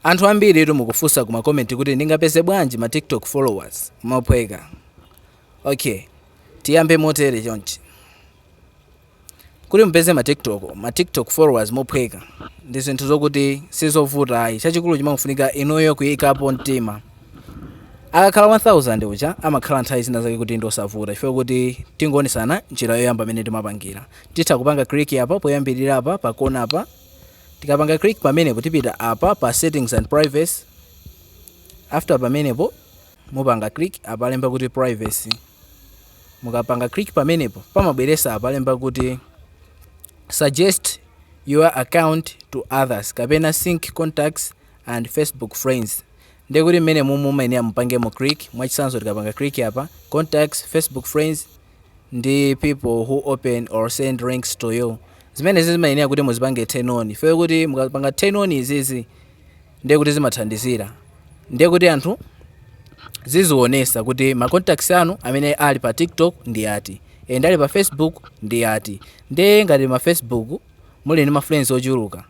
Anthu ambiritu mukufunsa ku ma comment kuti ndingapeze bwanji ma tiktok followers mophweka? Ok tiyambe motere chonchi, kuti mupeze ma tiktok ma tiktok followers mophweka ndi zinthu zokuti sizovuta ayi, chachikulu chimafunika inuyo kuyikapo mtima. Akakhala 1000 uja amakhala nthawi zina zake kuti ndiosavuta chifukwa kuti tingoonesana njira yoyamba imene timapangira. Titha kupanga click apa poyambirira apa pakona apa. Tikapanga click pamenepo tipita apa pa settings and privacy. After pamenepo mupanga click apa alemba kuti privacy. Mukapanga click pamenepo pamabweresa apa alemba kuti suggest your account to others kapena sync contacts and Facebook friends. Ndiye kuti mmenemumu mumayenera mupangemo click mwachisanzo tikapanga click apa contacts, Facebook friends ndi people who open or send links to you zimenezi zimayenera kuti muzipange turn on chifukwa kuti mukapanga turn on izizi ndiye kuti zimathandizira ndiye kuti anthu zizionesa kuti ma contacts anu amene ali pa tiktok ndi ati and ali pa facebook ndi ati ndiye ngati ma facebook muli ndi ma friends ochuluka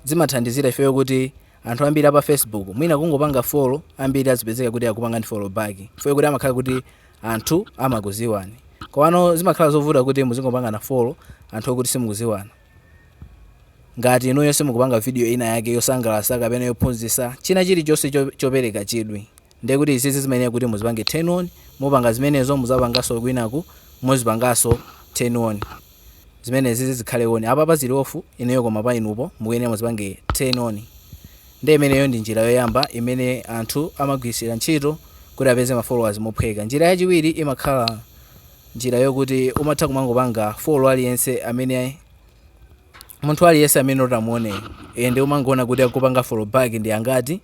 zimathandizira chifukwa kuti Anthu ambiri apa Facebook mwina kungopanga follow ambiri azipezeka kuti akupangani follow back chifukwa kuti amakhala kuti anthu amakuziwani komano zimakhala zovuta kuti muzingopangana follow anthu okuti simukuziwana ngati inuyo simukupanga video ina yake yosangalatsa kapena yophunzitsa china chilichonse chopereka chidwi Ndiye kuti izizi zimayenera kuti muzipange turn on, mupanga zimenezo muzapanganso kwinaku muzipanganso turn on. Zimenezizi zikhale on, apapa zili off ineyo, koma pa inupo mukuyenera muzipange turn on. Ndiye imeneyo ndi njira yoyamba imene anthu amagwiritsira ntchito kuti apeze ma followers mophweka. Njira yachiwiri imakhala njira yokuti umatha kumangopanga follow aliyense amene munthu aliyense amene utamuone, ende umangoona kuti akupanga follow back ndi angati,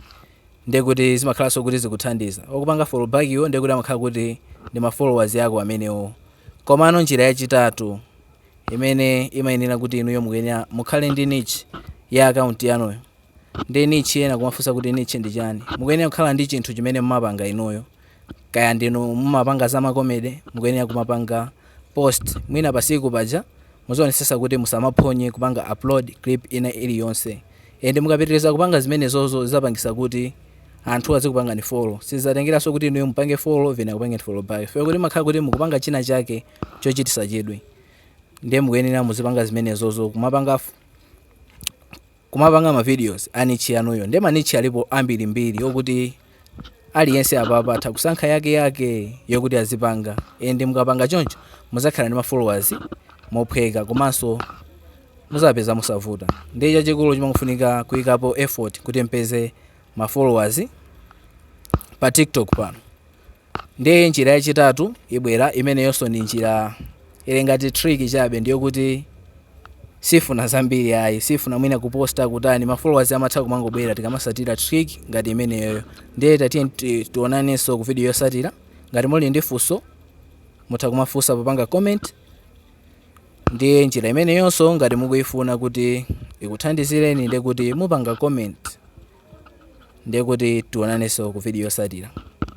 ndekuti zimakhalanso kuti zikuthandiza okupanga follow back wo ndekuti amakhala kuti ndi ma followers ako amenewo komano njira yachitatu imeneyi imayenera kuti inuyo mukuyenera mukhale ndi niche ya account yanuyo ndi niche ena kumafunsa kuti niche ndi chani mukuyenera kukhala ndi chinthu chimene mumapanga inuyo kaya ndinu mumapanga za ma comedy mukuyenera kumapanga post mwina pasiku paja muzionesesa kuti musamaphonye kupanga upload clip ina iliyonse and mukapitiliza kupanga zimenezozo zizapangisa kuti anthu azikupangani follow sizatengeraso kuti inuyo mupange follow ena akupangeni follow back chifukwa kuti mumakhala kuti mukupanga china chake chochitisa chidwi ndiye mukuyenera muzipanga zimenezozo kumapanga f- kumapanga ma videos a niche yanuyo nde ma niche alipo ambirimbiri okuti aliyense apa atha kusankha yake yake yokuti azipanga and mukapanga choncho muzakhala ndi ma followers mophweka komanso muzapeza mosavuta nde chachikulu chimangofunika kuyikapo effort kuti mpeze ma followers pa tiktok pano Ndiye njira yachitatu ibwera, imeneyonso ndi njira ili ngati trick chabe, ndiyo kuti sifuna zambiri ayi, sifuna mwina kuposta kutani, ma followers amatha kumangobwera tikamasatira trick ngati imeneyo. Ndiye tatiyeni ti- tionanenso ku video yosatira. Ngati muli ndi funso mutha kumafunsa popanga comment. Ndiye njira imeneyonso ngati mukuyifuna kuti ikuthandizireni ndiye kuti mupanga comment. Ndiye kuti tionanenso ku video yosatira.